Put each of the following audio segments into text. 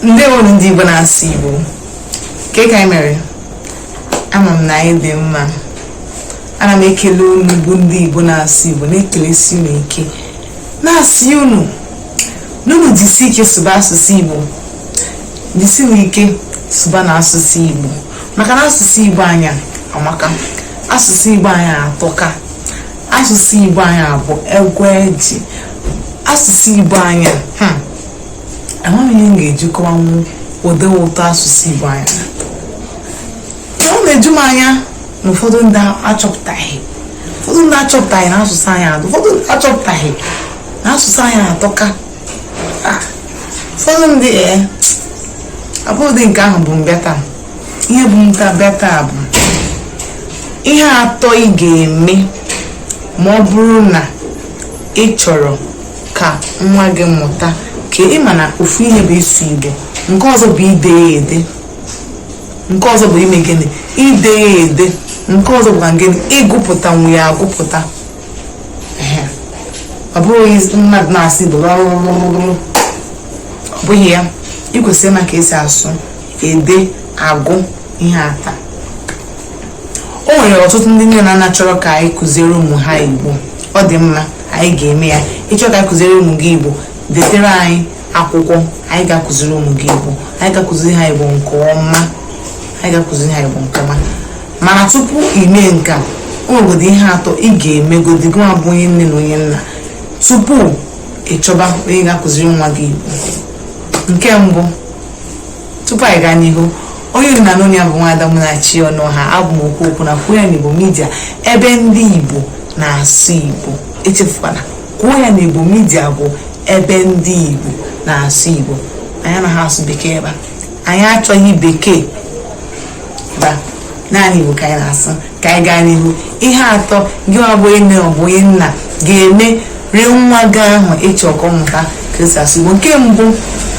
ndewo ndị Igbo na-asụ Igbo ke ka anyị mere ama m na anyị dị mma ana m ekele unu bụ ndị Igbo na-asụ Igbo na-ekelesi unu ike na-asị unu n'unu jisi ike sụba asụsụ Igbo jisi unu ike sụba na asụsụ Igbo maka na asụsụ Igbo anyị amaka asụsụ Igbo anyị atọka asụsụ Igbo anyị abụ egwu eji asụsụ Igbo anyị hmm, amaghị m ihe m ga-eji kọwanwu ụdị ụtọ asụsụ Igbo anyị ọ na-eju m anya na ụfọdụ ndị achọpụtaghị ụfọdụ ndị achọpụtaghị na asụsụ anyị adụ ụfọdụ ndị achọpụtaghị na asụsụ anyị atọka ah, ụfọdụ ndị ee eh, abụghịdị nke ahụ bu m bịa taa ihe bu m bịa taa bụ ihe atọ ị ga-eme ma ọ bụrụ na ị chọrọ ka nwa gị mụta ka ị ma na ofu ihe bụ ịsụ igbo nke ọzọ bụ ide ya ede nke ọzọ bụ ime gịnị ide ya ede nke ọzọ bụkwa gịnị ịgụpụtanwu ya agụpụta ọ bụghị mmadụ na-asụ igbo ọ bụghị ya ị kwesịrị ịma ka esi asụ ede agụ ihe atọ o nwere ọtụtụ ndị nne na nna chọrọ ka anyị kụziere ụmụ ha igbo ọ dị mma anyị ga-eme ya ị chọọ ka a kụziri ụmụ gị igbo detere anyị akwụkwọ anyị ga-akụziri ụmụ gị igbo anyị ga-akụziri ha igbo nke ọma anyị ga-akụziri ha igbo nke ọma mana tupu ime nke a o nwegodo ihe atọ ị ga-emegodi gị nwa bụ onye nne na onye nna tupu ị chọba onye ga-akụziri nwa gị igbo nke mbụ tupu anyị gaa n'ihu onye unu na-anụ olu ya bụ nwaada Munachi Ọnụọha abụ m okwu okwu na kwuo ya n'igbo midia ebe ndị igbo na-asụ igbo echefukwana kwuo ya n'igbo midia bụ ebe ndị igbo na-asụ igbo anyị anaghị asụ bekee ebe a anyị achọghị bekee ebe a naanị igbo ka anyị na-asụ ka anyị gaa n'ihu ihe atọ gị nwa bụ nne ọ bụ nna ga-emeri nwa gị ahụ ị chọ ka ọ mụta ka esi asụ igbo nke mbụ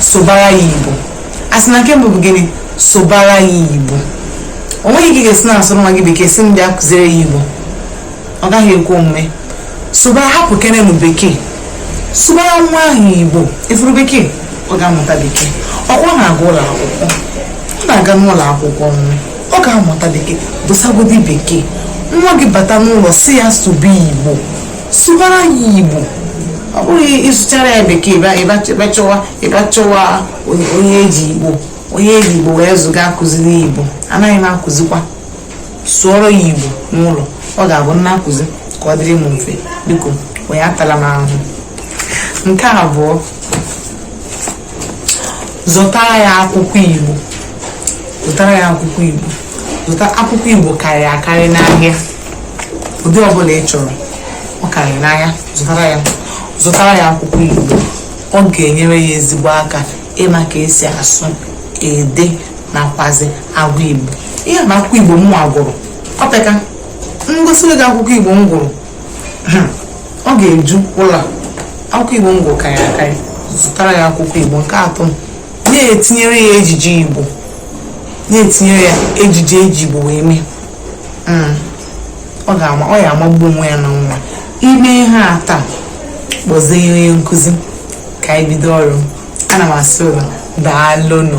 sụbara ya igbo a sị na nke mbụ bụ gịnị sụbara ya igbo o nweghị ka ị ga-esi na-asụrụ nwa gị bekee sị m bịa kụziri ya igbo ọ gaghị ekwe omume sụbara hapụkenenụ bekee sụbara nwa ahụ igbo ị fụrụ bekee ọ ga-amụta bekee ọkwa ọ na-aga ụlọ akwụkwọ ọ na-aga n'ụlọ akwụkwọ ọ ga-amụta bekee dosagodi bekee nwa gị bata n'ụlọ sị ya sụba igbo sụbara ya igbo ọ bụghị ị sụchara ya bekee ị bịa chọwa ị bịa chọwa onye eji igbo onye eji igbo wee zụọ ga-akụziri igbo anaghị m akụzikwa sụọrọ ya igbo n'ụlọ ọ ga-abụ m na-akụzi ka ọ dịrị m mfe biko onye atala m ahụhụ nke abụọ zụtara ya akwụkwọ igbo zụtara ya akwụkwọ igbo zụta akwụkwọ igbo karịrị akarị n'ahịa ụdị ọbụla ị chọrọ ọ karịrị n'ahịa zụtara ya akwụkwọ igbo ọ ga-enyere ya ezigbo aka ịma ka esi asụ ede nakwazi agụ igbo ihe bụ akwụkwọ igbo m nwa gụrụ ọ bụ ka m gosiri gị akwụkwọ igbo m gụrụ ọ ga-eju ụlọ akwụkwọ igbo m gụrụ karịrị akarị zụtara ya akwụkwọ igbo nke atọ na-etinyere ya ejije igbo na-etinyere ya ejije eji igbo wee mee hmm. ọ ga-ama ọ ya amagbu onwe ya na nwa i mee ihe a taa kpọzie onye nkụzi ka anyị bido ọrụ ana m asị unu daalụnụ